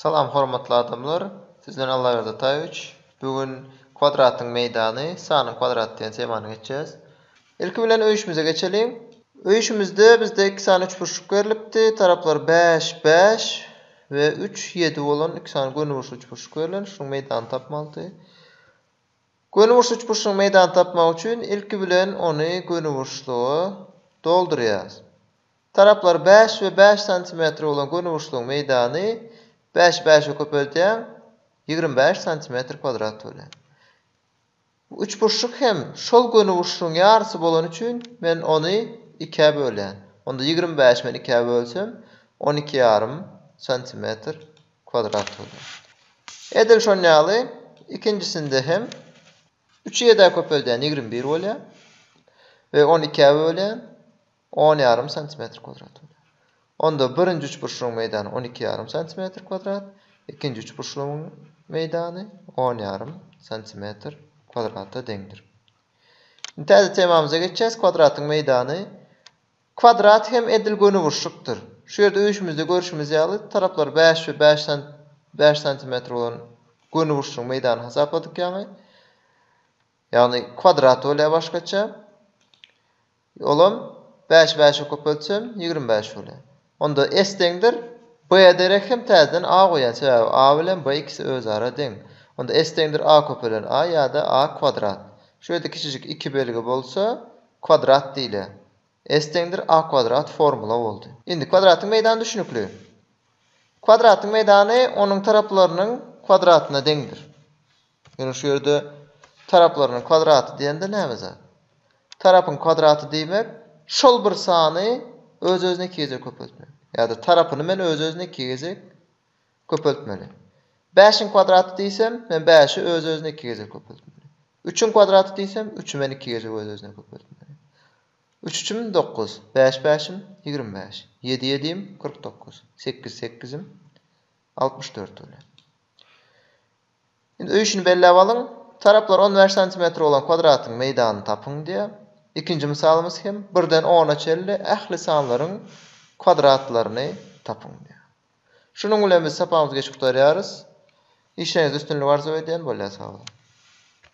Salam hormatly adamlar! Siz bilen Allaberdi Ataýewiç. Bu gün kwadratyň meýdany, sanyň kwadraty diýen temany geçýäs. Ilki bilen öýüşimize geçeliň. Öýüşimizde bizde iki sany üçburçluk berlipdi. Taraplary bäş, bäş we üç, ýedi bolan iki sany gönüburçly üçburçluk berlen. Şunuň meýdanyny tapmalydy. Gönüburçly üçburçlugyň meýdanyny tapmak üçin ilki bilen ony gönüburçluga doldurýarys. Taraplary bäş we bäş santimetr bolan gönüburçlugyň meýdany bäşi bäşe köpeldýäň, ýigrimi bäş santimetr kwadrat bolýar. Bu üçburçluk hem şol gönüburçlugyň ýarysy bolany üçin men ony ikä bölýän. Onda ýigrimi bäşi men ikä bölsem, on iki ýarym santimetr kwadrat bolýar. Edil şon ýaly ikinjisinde hem üçi ýedä köpeldýän, ýigrimi bir bolýar we ony ikä bölýän. On ýarym santimetr kwadrat bolýar. Onda birinji üçburçlugyň meýdany on iki ýarym santimetr kwadrat, ikinji üçburçlugyň meýdany on ýarym santimetr kwadrata deňdir. Indi täze temamyza geçýäs, kwadratyň meýdany. Kwadrat hem edil gönüburçlukdyr. Şu ýerde öýüşimizde görşümiz ýaly, taraplary bäş we bäş bäş santimetr bolan gönüburçlugyň meýdany hasapladyk ýaňy. Ýagny kwadrat bolýar başgaça. Olam bäş bäşe köpeltsem, ýigrimi bäş bolýar. Onda S deňdir, B-ä derek hem täzeden A goýýan, sebäbi A bilen B ikisi özara deň. Onda S deňdir A köpelen A ýa-da A kwadrat. Şu ýerde kiçijik iki belgi bolsa, kwadrat diýilýär. S deňdir A kwadrat formula boldy. Indi kwadratyň meýdany düşnükli. Kwadratyň meýdany onuň taraplarynyň kwadratyna deňdir. Ýöne şu ýerde taraplarynyň kwadraty diýende näme zat? Tarapyň kwadraty diýmek, şol bir sany öz-özüne iki gezek köpeltmek. Ýa-da tarapyny men öz-özüne iki gezek köpeltmeli. Bäşiň kwadraty diýsem, men bäşi öz-özüne iki gezek köpeltmeli. Üçüň kwadraty diýsem, üçi men iki gezek öz-özüne köpeltmeli. Üç üçüm, dokuz. Bäş bäşim, ýigrimi bäş. Ýedi ýedim, kyrk dokuz. Sekiz sekizim, altmyş dört bolýar. Indi öýşini belläp alyň. Taraplar on bäş santimetr bolan kwadratyň meýdanyny tapyň diýýär. Ikinji mysalymyz hem birden ona çenli ähli sanlaryň kwadratlaryny tapyň diýýär. Şunuň bilen biz sapagymyzy geçip gutarýarys. Işleriňizde üstünlik arzuw edýän. Bolýa sag boluň.